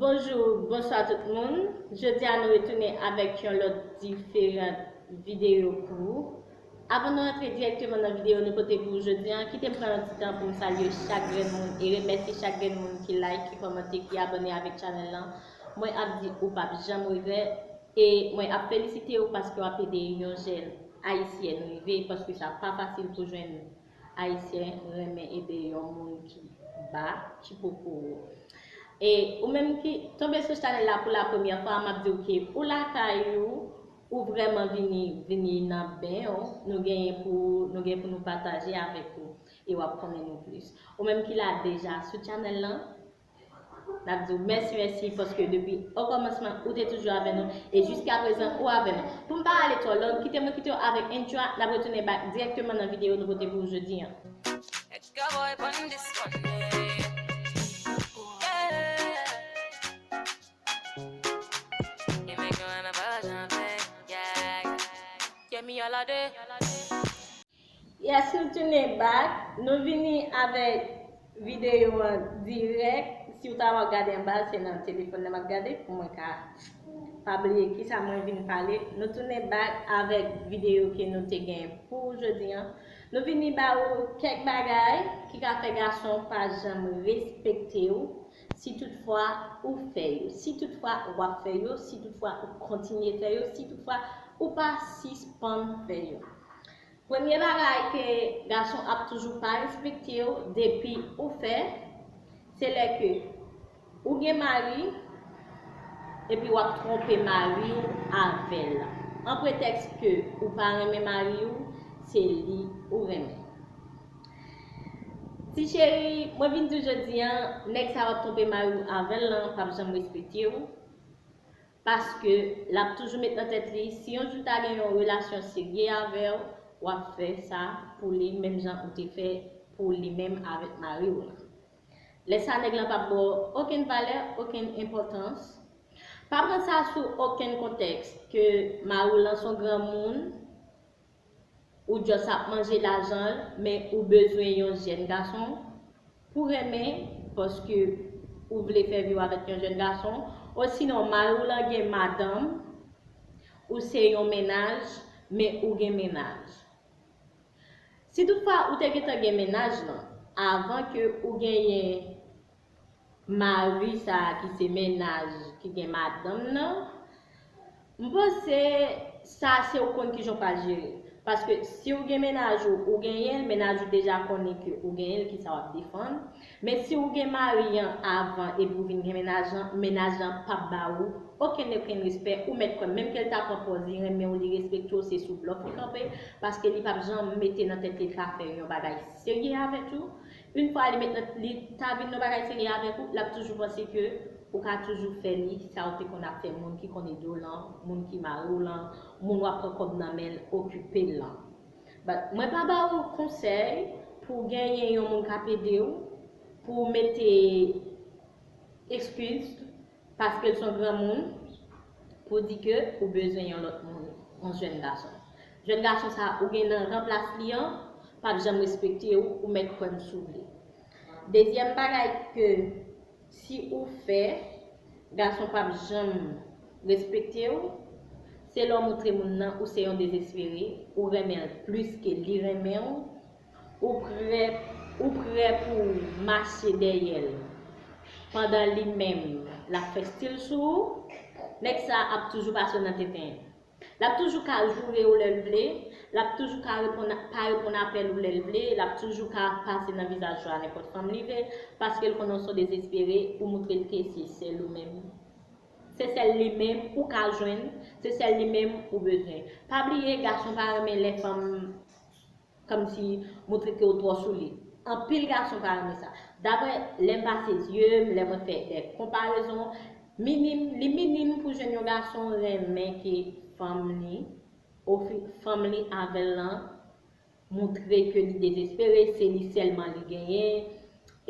Bonjou bonswa tout moun jodi a nou retounen avèk yon lòt diferan videyo pou ou avan nou antre dirèkteman nan videyo nou pote pou ou jodi a kite m pran yon ti tan pou m salye chak grenn moun e remèsye chak grenn moun ki like ki kòmante ki abòne avèk chanèl lan mwen ap di ou pap janm regrèt e mwen ap felisite ou paske wap ede yon jèn ayisyèn rive paske sa pa fasil pou jwenn Ayisyen renmen ede yon moun ki ba, ki poko wo. E ou menm ki tonbe sou chanèl la pou la premyè fwa, map diw ke ou lakay ou, ou vrèman vini, vini nan ben ou, nou genyen pou, nou gen pou nou pataje avèk ou e wap konnen nou plis. Ou menm ki la deja sou chanèl lan, Nap diw mèsi mèsi paske depi okòmansman ou te toujou avè nou e jiska prezan ou avè nou. Poum pa ale twò long, kite mwen kitew avèk intro a, nap retounen back dirèkteman nan video nou pote pou ou jodi an. Yes nou tunen back, nou vini avèk video an dirèk, siw ta wè wap gade anba se nan telefòn nan map gade pou mwen ka pa bliye kisa mwen vin pale, nou tunen back avèk video ke nou te gen pou ou jodi an, nou vini ba ou kèk bagay ki ka fè gason pa janm respektew si tout fwa ou fè yo, si tout fwa wap fè yo, si tout fwa ou kontinye fè yo, si tout fwa ou pa sispann fè yo. Premye bagay ke gason ap toujou pa respektew depi ou fè se lè ke ou gen mari epi wap twonpe mariw avèl an pretèks ke ou pa renmen mariw se li ou renmen. Ti cheri mwen vin diw jodi an nèg sa wap twonpe mariw avèl lan pap janm respektew. Paske, l ap toujou met nan tèt li, si yon jou ta gen yon relasyon serye avè w, w ap fè sa pou li menm jan ou te fè pou li menm avèk mari w lan. Lè sa nèg lan p ap ba w okenn valè, okenn enpòtans. Pa pran sa sou okenn kontèks, ke mari w lan s on granmoun, Ou just ap manje lajan l men ou bezwen yon jèn gason pou renmen paske ou vle fè vi w avèk yon jèn gason osinon mari w lan gen madanm ou se yon mennaj men ou gen mennaj si tout fwa ou te gentan gen mennaj lan avan ke ou genyen Mari sa ki se mennaj ki gen madanm nan, m panse sa se ou konn kijan ou pral jere l. Paske si ou gen mennaj ou, ou genyen l, mennaj ou deja konnen ke ou genyen l kisa wap defann. Men si ou gen mari an avan epi ou vin gen mennaj lan, mennaj lan pap ba ou okenn okenn respè, ou mèt kwè m menm ke l ta pran pòz li renmen w, li respekte w se sou blòf li kanpe, paske li pap janm mete nan tèt li l ka fè yon bagay serye avèk ou. Une fwa li met nan li ta vin yon bagay serye avèk ou, lap toujou panse ke ou ka toujou fè li sa ou te konn ap fè moun ki konn ede w lan, moun ki mare w lan, moun wap pran kòb nan men l okipe l lan. But mwen pa ba ou konsèy pou w genyen yon moun kap ede w pou w mete eskiz. Paske l son granmoun, pou di ke ou bezwen yon lòt moun, yon jèn gason. Jèn gason sa ou gen nan ranplas li an, pap janm respekte ou, ou mèt kwè m si w vle. Dezyèm bagay ke si ou fè, gason pap janm respekte w, se lè w montre moun nan ou se yon dezespere, ou renmen l plis ke li renmen w, Ou prè ou prè pou w mache dèyè l pandan li menm l ap fè stil sou ou? Nèg sa ap toujou pase w nan tenten. L ap toujou ka joure w lè l vle, l ap toujou ka reponn pa reponn apèl ou lè l vle, l ap toujou ka pase nan vizaj ou a nenpòt fanm li vle paske l konnen w son dezespere ou moutre l ke se sèl ou menm se sèl li menm ou ka jwenn, se sèl li menm ou bezwen. Pa bliye gason pa renmen lè fanm. Komsi moutre kew twò sou li. Anpil gason pa renmen sa. Daprè lèm pase zyeum, lè mwen fè dè konparezon, minim, li minim pou jwenn yon gason renmen ke fanm li ofri fanm li avèl lan moutre ke li dezespere, se li sèlman li genyen,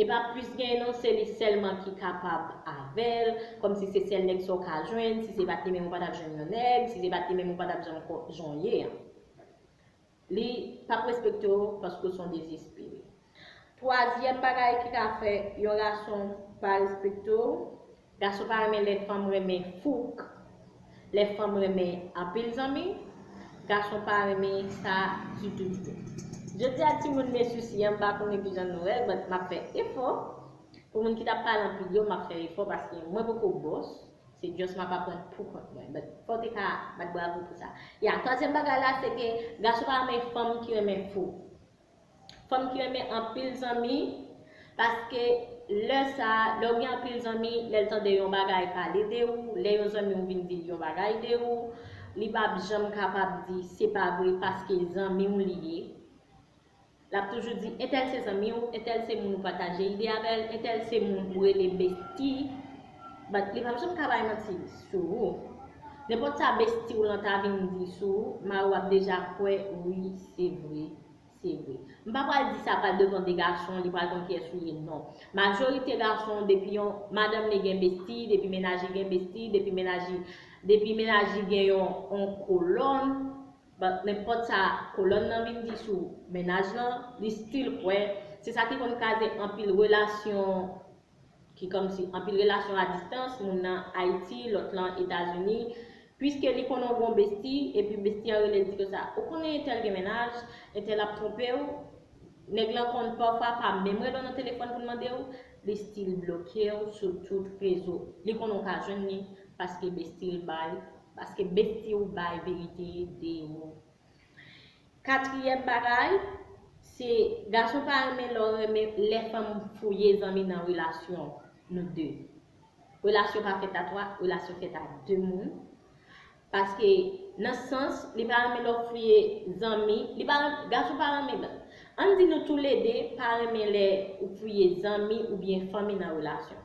e pa plis genyen non, se li sèlman ki kapab avèl, komsi se sèl nèg sa w ka jwenn, si se pat li menm ou pa tap jwenn yon nèg, si se pat li menm ou pa tap janm konn jan w ye an. Li pap respekte w paske w se yon dezespere. Twazyèm bagay ki ka fè yon gason pa respekte w. Gason pa renmen lè fanm renmen fouk, lè fanm renmen anpil zanmi. Gason pa renmen sa ditou ditou. Jodi a timoun men sousi an m pa konnen kijan nou wè l but m ap fè efò. Pou moun ki t ap pale anpil yo m ap fè efò paske mwen poko bòs. Se just map aprann pou kont mwen. But fòw te ka bat bravo pou sa. Ya twazyèm bagay la se ke gason pa renmen fanm ki renmen fou. Fanm ki renmen anpil zanmi paske lè sa lèw gen anpil zanmi lèl tande yon bagay pale de ou lè yon zanmiw vin dil yon bagay de ou li pap janm kapab di se pa vre paske zanmiw li ye. L ap toujou di entèl se zanmi w, entèl se moun ou pataje ide avè l, entèl se moun ou rele besti, but li p ap janm ka bay manti sou ou. Nenpòt sa besti w lan ta vin di sou ou, mari w ap deja kwè wi se vre, se vre. M pa pral di sa pral devan de gason, li pral konn kiyès ou ye non. Majorite gason depi yon madanm li gen besti, depi mennaj li gen besti, depi mennaj li depi mennaj li gen yon on kolòn, but nenpòt sa kolòn nan vin di sou mennaj lan li still kwè, se sa ki konn kaze anpil relasyon ki kòmsi anpil relasyon a distans, moun nan Ayiti lòt lan Etazini, puiske li konnen w gon besti epi besti an rele di konsa ou konnen entèl gen mennaj, entèl ap twonpe w, nèg lan konn pafwa pa menm rele w nan telefòn pou l mande w, li still bloke w sou tout rezo, li konnen w ka jwenn li paske besti l bay. Paske bestie ou bay verite de ou. Katriyèm bagay, se gason pa renmen lè w renmen lè fanm fouye zanmi nan relasyon nou de. Relasyon pa fèt a 3, relasyon fèt a 2 moun. Paske nan sans li pa renmen lè w fouye zanmi, li pa renmen, gason pa renmen. Ann di nou toulede pa renmen lè ou fouye zanmi oubyen fanmi nan relasyon.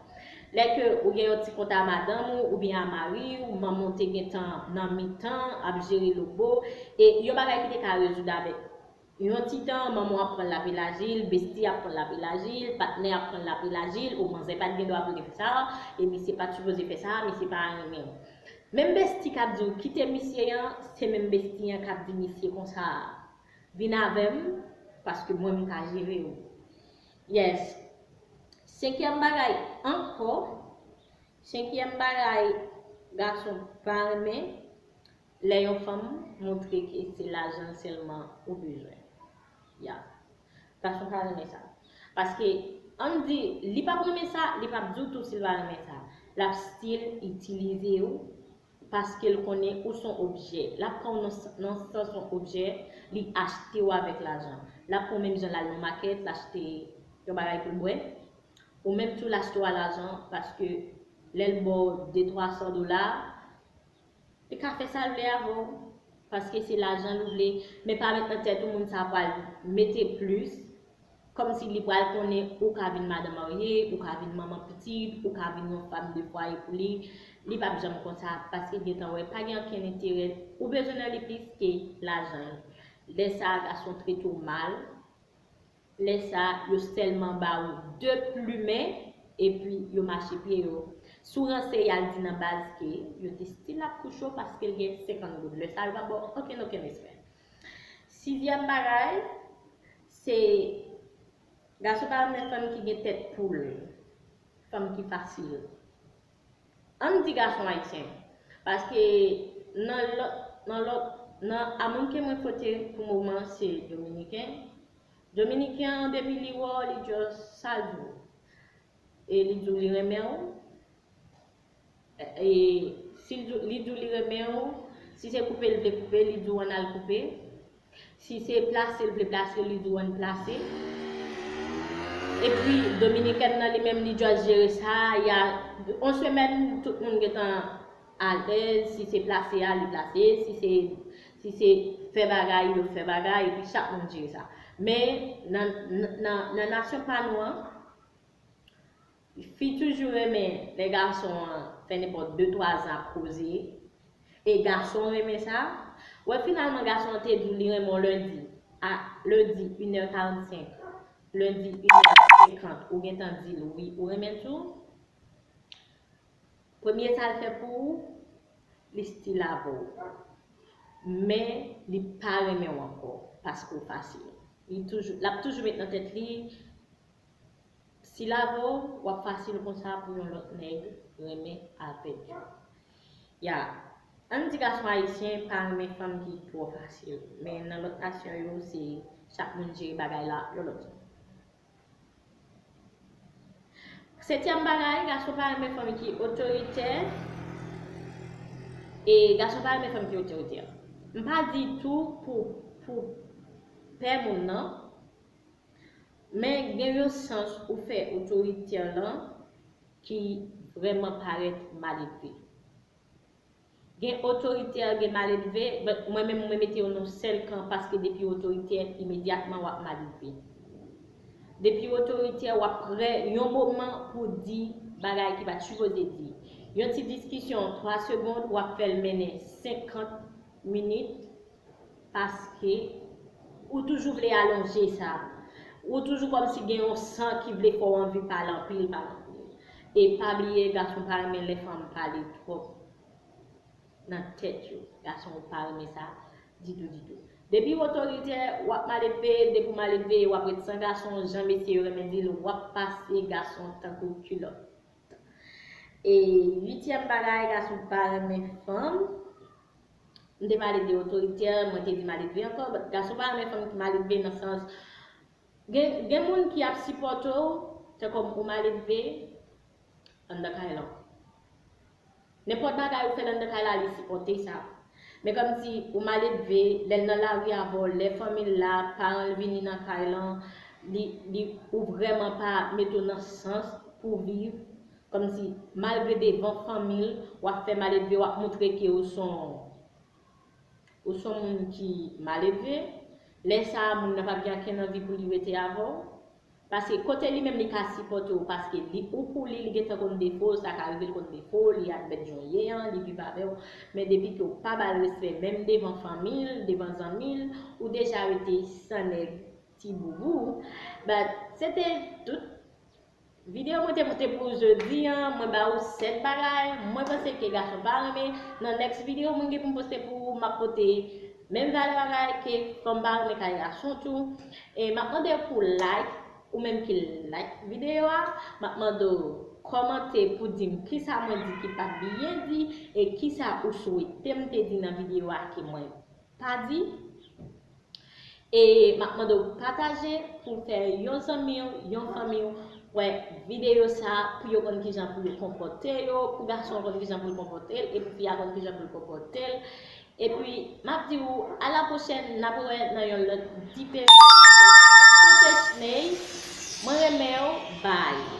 Lè ke ou gen yon ti kont a madanm ou oubyen a mari ou, manman w te gentan nan mitan ap jere lobo, e yon bagay ki te ka rezoud avèk yon ti tan, manman w ap pran l lap elaji l, besti ap pran l lap elaji l, patnè ap pran l lap elaji l, o manzè pat gen dwa pou l te fè sa, e misye pat sipoze fè sa, misye pa renmen w. Menm besti kap di w kite misye an, se menm besti an kap di misye konsa a. Vin avèm paske mwen m ka jere ou. Yes Senkyèm bagay ankò Senkyèm bagay gason pa renmen lè yon fanm montre ke se lajanl sèlman ou bezwen Yeah Gason pa renmen sa Paske ann di li pap renmen sa li pap diw tou sil pa renmen sa Lap still itilize ou Paske l konnen ou s on objè. L ap pran w nan sans yon objè, li achte w avèk lajan. L ap pran w menm jan l al nan makèt, l achte yon bagay pou l bwè. Ou menm tou l achte w a lajan paske lè l ba w de twa san dola, li ka fè sa l vle avè w paske se lajan l vle. Men pa met nan tèt ou moun sa a pral mete plis Kòmsi li pral konnen ou ka vin madan marye, ou ka vin manman pitit, ou ka vin yon fam de fwaye pou li, li pap janm konsa paske l gentan wè pa gen ankenn enterè ou bezwen nan li plis ke lajan l. Lè sa a gason trete w mal, lè sa a yo sèlman ba ou 2 plumen epi yo mache pye yo. Si w ranse y al di nan baz ke yo te stil ap kouche w paske l gen 50 goud, lè sa a yo pap ba w ankenn okenn respè. Sizyèm bagay, se gason pa renmen fanm ki gen tèt poul, fanm ki fasil. An n di gason ayisyen, paske nan lòt, nan lòt, nan a moun ke mwen kote pou moman an se dominiken, dominiken an depi li wè w li just salye w. E li diw li renmen w e sil diw li diw li renmen w si se koupe l vle koupe li diw ann al koupe si se plase l vle plase li diw ann plase epi dominikèn nan li menm li just jere sa ya on semèn tout moun gentan alèz si se plase a li plase si se si se fè bagay yo fè bagay epi chak moun jere sa men nan nan nasyon pa nou an Fi toujou renmen lè gason an fè nenpòt de twa zan ap koze, e gason renmen sa. Wè finalman gason an te di w li renmen w lendi, a ledi inè karantsenk, lendi inè senkant ou gentan di l wi ou renmen l tou. Premye sa l fè pou ou, li stil avè w. Men li pa renmen w ankò paske w fasil. Li toujou, l ap toujou met nan tèt li. Sila avè w wap fasil konsa pou yon lòt nèg renmen avèk yo ya ann di gason ayisyen pa renmen fanm ki twò fasil men nan lòt nasyon yo se chak moun jere bagay la yon lòt jan setyèm bagay gason pa renmen fanm ki otoritè e gason pa renmen fanm ki otoritè m pa di tou pou pou pè moun nan. Men gen yon sans ou fè otoritè lan ki vrèman parèt maledve. Gen otoritè gen maledve but mwen menm mwen mete yo nan sèl kan paske depiw otoritè imedyatman wap maledve. Depiw otoritè wap prè yon moman pou w di bagay ki pat sipoze di. Yon ti diskisyon 3 segond wap fèl mennen 50 minit Paske ou toujou vle alonje sa. Ou toujou kòm si gen yon san ki vle fè w anvi pale anpil pale anpil. E pa bliye gason pa renmen lè fanm pale twòp nan tèt yo. Gason yo pa renmen sa ditou ditou. Depi w otoritè, w ap maledve, depi w maledve w ap ret san gason jan mesye yo renmen di l w ap pase gason tankou kilòt. E uityèm bagay gason pa renmen fanm. M te maledve otoritè, mwen te vin maledve ankò, but gason pa renmen fanm ki maledve nan sans gen gen moun ki ap sipòte w fè kòm ou maledve anndan kay lan. Nenpòt bagay ou fè anndan kay la li sipòte sa. Men kòm si ou maledve, lè l nan lari avè w, lè fanmi l la, paran l vini nan kay lan, li li ou vrèman pa mete w nan sans pou w viv, Kòmsi malgre devan fanmi l wap fè maledve wap moutre ke ou son ou son moun ki maledve, lè sa a moun nan pap gen ankenn anvi pou li rete avè w. Paske kote li menm li ka sipòte w paske li ou pou li li gentan konn defo w, sa ka rive l konn defo w, li admèt jan w ye an, li viv avè w, men depi ke w pa ba l respè menm devan fanmi l, devan zanmi l, ou deja rete san nèg ti boubou, but se te tout. Video mwen te pote pou ou jodi an, mwen ba ou 7 bagay mwen panse ke gason pa renmen, nan next video mwen gen pou m poste pou ou map pote menm valè bagay ke fanm pa renmen kay gason tou, e map mande ou pou like ou menm ki like video a, map mande ou kòmante pou di m kisa mwen di ki pat byen di e kisa ou swete m te di nan video a ke mwen pa di. E map mande w pataje pou fè yon zanmi w, yon fanmi w wè videyo sa pou yo konn kijan pou yo konpòte yo, pou gason an konn kijan pou l konpòte l e pou fi a konn kijan pou l konpòte l. Epi map di ou a la pwochèn nap wè nan yon lòt diferan videyo TT Schney mwen renmen w bye.